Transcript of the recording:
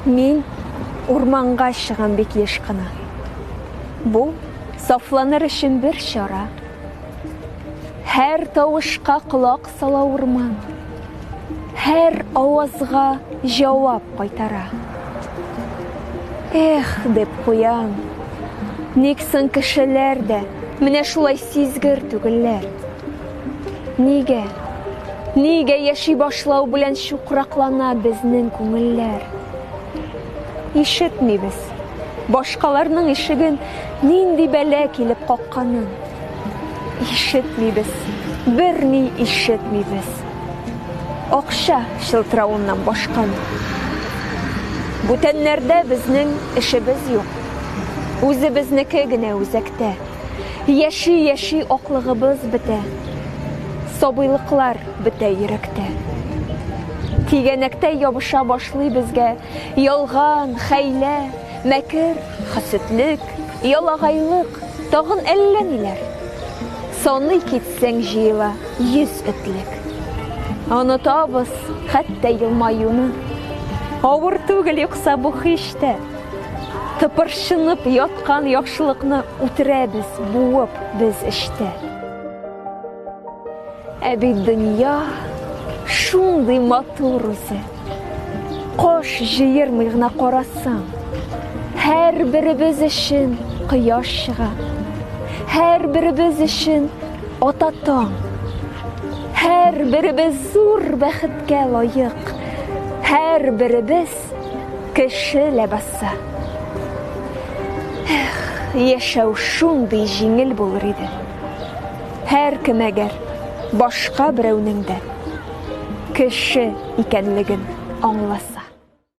Мин урманга чыгам бик еш кына. Бу сафланыр өчен бер чара. Һәр тавышка колак сала урман. Һәр авазга җавап кайтара. Эх, дип куям. Ник соң кешеләр дә менә шулай сизгер түгелләр? Нигә? Нигә яши башлау белән чукраклана безнең күңелләр? Ишетмибез. Башкаларның ишеген нинди бәлә килеп какканын. Ишетмибез. Берни ишетмибез. Акча чылтыравыннан башканы. Бүтәннәрдә безнең эшебез юк. Үзебезнеке генә үзәктә. Яши яши аклыгыбыз бетә, сабыйлыклар бетә йөрәктә. Тигәнәктә ябыша башлый безгә ялган, хәйлә, мәкер, хасетлек, ялагайлык, тагын әллә ниләр. Саный китсәң җыела йөз этлек. Онытабыз хәтта елмаюны. Авыр түгел юкса бу хиштә. Тыпыршынып яткан яхшылыкны үтерәбез, буып без эчтә. Ә бит дөнья шундый матур үзе. Кош җыермый гына карасаң, һәрберебез өчен кояш чыга. Һәрберебез өчен ата таң. Һәрберебез зур бәхеткә лаек. Һәрберебез Кеше ләбасы. Эх, яшәү шундый җиңел булыр иде. Һәркем әгәр башка берәүнең дә кеше икәнлеген аңласа.